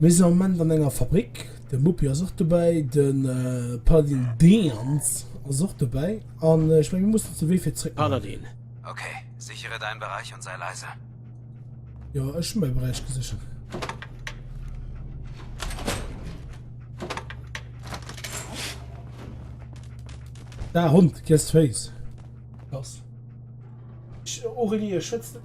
Mir sinn am Moment an enger Fabrik, de Muppi ass och dobäi, de Paladin Deans ass och dobäi an ech mengen, mir mussen ons de Wee fir zeréck maachen. Paladin. Okay, sichere däin Beräich an säi leise. Jo, ech hu mäi Beräich geséchert. Daer Hond, gess d'Féiss. Lass. Aurélie, ech schwätz net.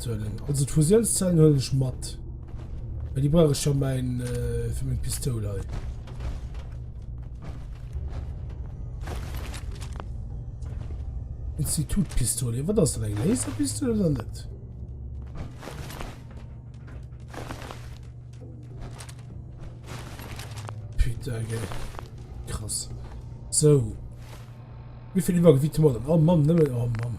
Mathuelen. Also d'Fusiounszellen huelen ech mat. Well déi brauch ech ja mäin, äh, fir meng Pistoul hei. Institutpistole. Wat ass dat eng Laserpistole oder net? Putain, gell. Krass. So. Wie viel Übergewicht haben wir denn? Oh Mann, nehmen wir. Oh Mann.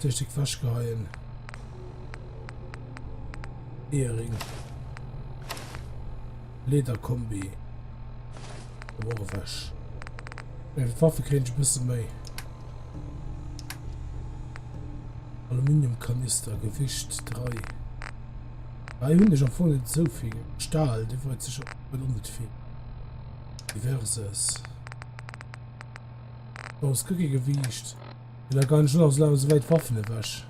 Technik wäsch geheien. Eering. Lederkombi. Wore wäsch. Eng äh, Waffe kréint ech bësse méi. Aluminiumkanister, Gewicht 3. Hei hunn ech am Fong net esou vill. Stahl, de wollt sech op net vill. Diverses. Aus Gewicht. Well der Gun schon ass elo awer souwäit Waffen ewech.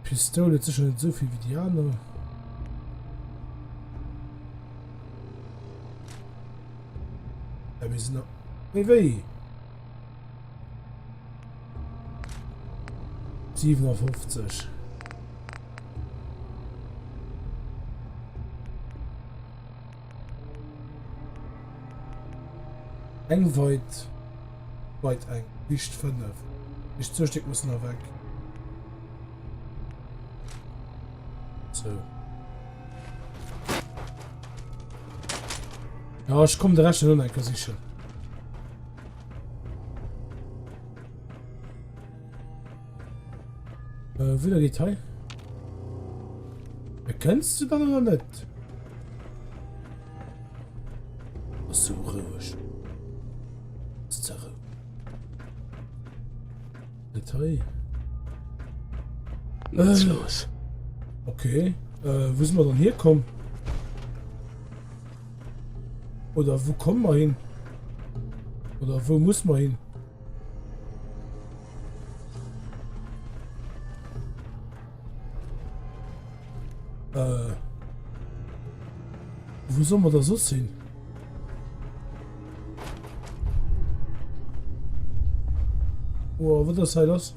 D'Pistoul huet sécher net esouvill wéi déi aner. Ja, mir sinn nach méi wéi. 57. Eng weit weit eng dicht 5 dicht zwou Stéck mussen erweg sou ja ech komm de rechten hun eng ka sichel Äh, wieder geht hei. Erkennst du dann oder nicht? Was so ruhig. Ist zur Ruhe. Nicht hei. Was ähm, los? Okay. Äh, wo sind wir dann herkommen? Oder wo kommen wir hin? Oder wo muss man hin? Äh. Wo soll man da so sinn? Oh, wat ass hei lass?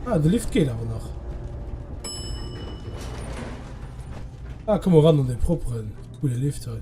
Ah, de Lift geht aber nach. Ah, komm mal ran an den properen. Coole Lift hei.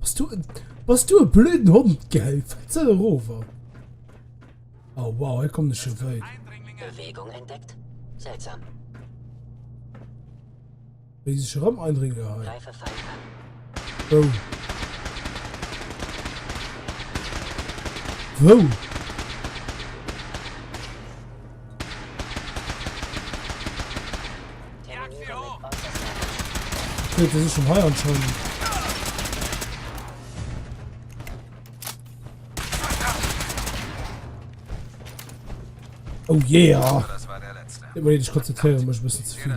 Was du was du e blöden Hund gell Fetzer Rover Oh wow er kommt schon weit Bewegung entdeckt seltsam Wie sich rum eindringen Wo Wo Wait, das ist schon heuer und schon. Oh yeah! Ich muss mich konzentrieren, ich muss ein bisschen zu viel.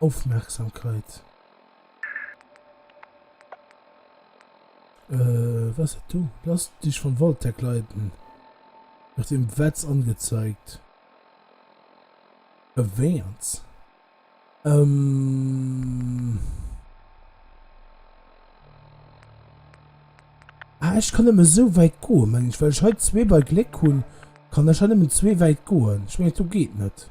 Aufmerksamkeit. Äh, was ist du? Lass dich von Voltec leiten. Wird im Wetz angezeigt. Erwähnt. Ähm. Ah, ich kann immer so weit gehen, meine ich, weil ich heute zwei bei Glück hun, kann ich heute immer zwei weit gehen. Ich meine, du geht nicht.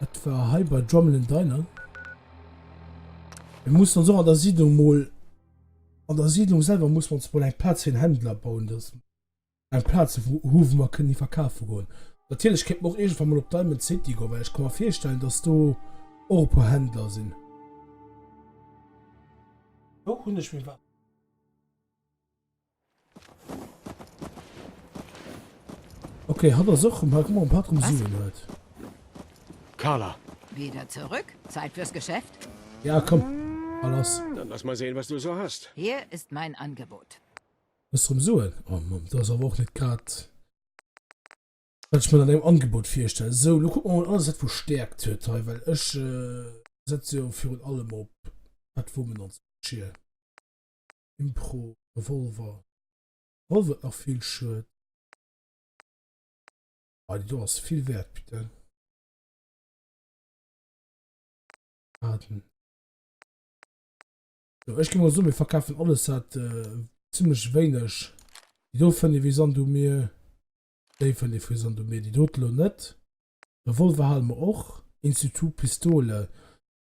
Et war hei bei Drumlin Diner. Mir mussen ons och an der Siedlung mol, an der Siedlung selwer mussen mir ons mol eng Plaz fir en Händler bauen, dass mer eng Plaz hu wou mer kënne verkafe goen. Natierlech kéint mer och iergendwann mol op Diamond City goen, well ech ka mer virstellen, dass do och e puer Händler sinn. Wou hunn ech mir wat? Okay, hat ass och mal guck mal, um sieben huet. Carla. Wieder zurück? Zeit fürs Geschäft? Ja, komm. Alles. Dann lass mal sehen, was du so hast. Hier ist mein Angebot. Was drum soen? Oh Mann, das ist aber auch nicht grad. Was ich mir dann im Angebot vorstelle. So, lo guck mal alles, was wo stärkt hört, hey, weil ich äh, setze ja für allem ob, was wo man uns schier. Impro Revolver Wollt et nach vill Schued. Ah déi do ass vill wäert putain. Waarden jo ech gi mol soen mir verkafen alles wat zimmlech wéineg déi do fënnt ee wéi Sand um Mier. Déi fënnt ee wéi Sand um Mier déi dote lo net. Revolver hale mer och Institut Pistole.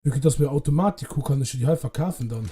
Vue que dass mir Automatik hu kann ech jo déi hei verkafen dann.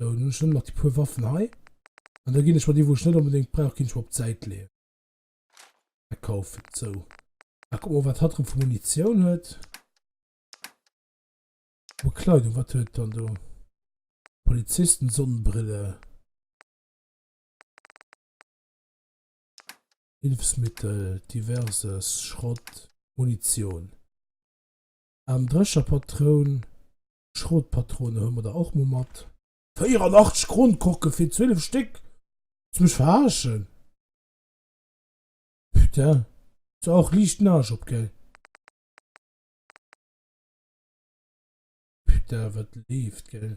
Sou, nun hun ech nëmmen nach déi puer Waffen hei, an da gin ech mer déi wou ech net onbedéngt brauch gin ech mer op d'Säit leeën. Mä kaufen, sou. Ah kuck mol wat hatt rëm vu Munitioun huet. Bekleidung, wat huet dann do? Polizisten Sonnenbrille. Hilfsmittel, diverses, Schrott, Munitioun. Armdrescherpatroun, Schrotpatronen huele mer der och mol mat. 84 Kronkorken fir 12 Stéck? Wëlls mech verarschen? Putain, hues de och liicht den Arsch op, gell? Putain, wat leeft, gell?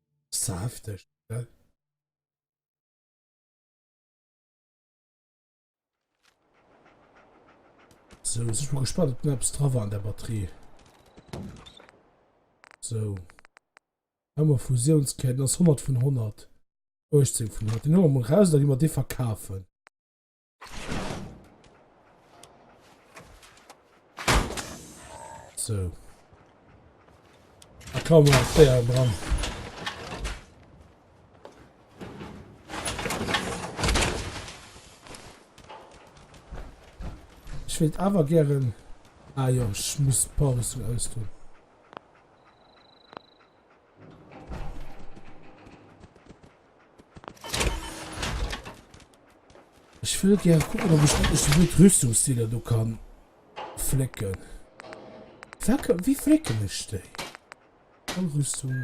Saafteg, oder? So, ech bin gespannt, ob etwas dran war an der Batterie. So. Haben wir Fusionsketten, das 100 von 100. 18 von 100. Den holen wir mal raus, dann gehen wir den verkaufen. So. Da kann man sehr dran. Ich will aber gerne. Ah ja, ich muss Pause aus tun. Ich will gerne gucken, ob ich wirklich so gut Rüstungsziele du kann flicken. Flecke, wie flicken ich die? Rüstung.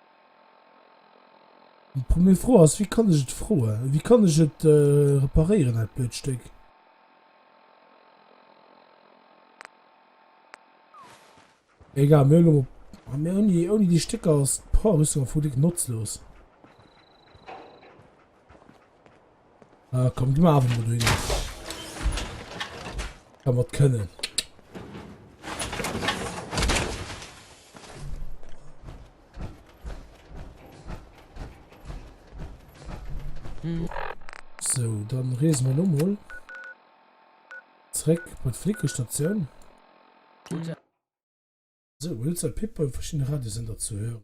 Déi premier Fro ass, wéi kann ech et froe, wéi kann ech et reparéieren dat blöd Stéck? Egal, mir hunn elo, mir hunn déi, ouni déi Stécker ass d'Power-Rüstung am Fong déck notzlos. Ah, komm, gib mir einfach mal hin. Kann man können. So, dann reden wir nochmal. Zurück bei der Flickenstation. So, willst du Pippa verschiedene Radiosender zu hören?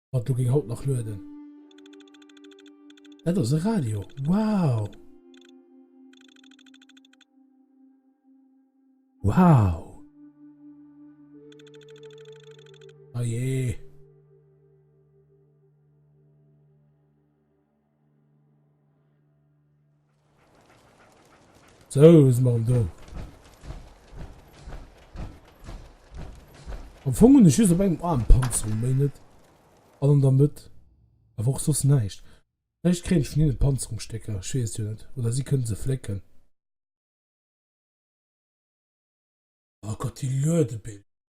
Mat do ging haut nach lueden. Dat ass e Radio. Wow! Wow! Oh jee! So, was sind wir denn da? Am Fong hun ech just op engem Arm Panzerung, méi net. An an der Mëtt. Awer och soss näischt. Vläicht kréien ech vun hinnen Panzerungsstécker, ech weess jo net. Oder si kënnen se flécken. Oh Gott, déi Luedebiller.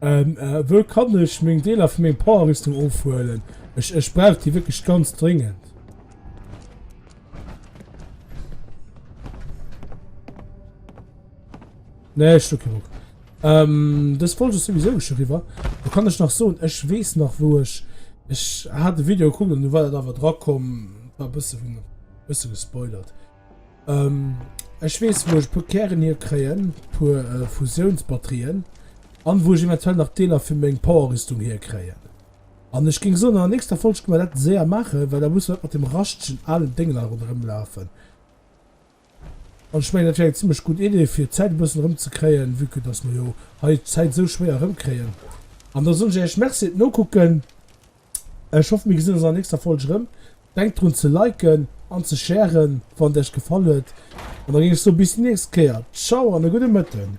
Ähm, äh, wou kann ech meng Deeler vu meng Power-Rüstung ofhuelen? Ech, ech brauch déi wierklech ganz dringend. Nee, ich okay. Ähm, das wollte ich sowieso schon rüber. Da kann ich noch so, ich weiß noch, wo ich. Ich hatte ein Video geguckt und du war da dran kommen. War ein bisschen, ein bisschen gespoilert. Ähm, ech weess wou ech puer Kären hier kréien, puer Fusiounsbatterien, an wou ech eventuell nach Deeler fir meng Powerrüstung hier kréien. An ech géing soen an der nächster Folg gi mer dat séier maachen, well da muss mer net mat dem raschtegen alen Déngler ronderëm lafen. An ech mengen dat wär eng zimlech gutt Idee fir d'Zäit e bëssen erëm ze kréien, vue que dass mer jo hei d'Zäit esou schwéier erëm kréien. An da soen ech Iech Merci fir d'Nokucken. Ech hoffen mir gesinn ons an der nächster Folg rëm. Denkt drun ze liken an ze sharen wann et iech gefall huet an da géing ech soen bis déi nächst Kéier. Ciao an e gudde Mëtten.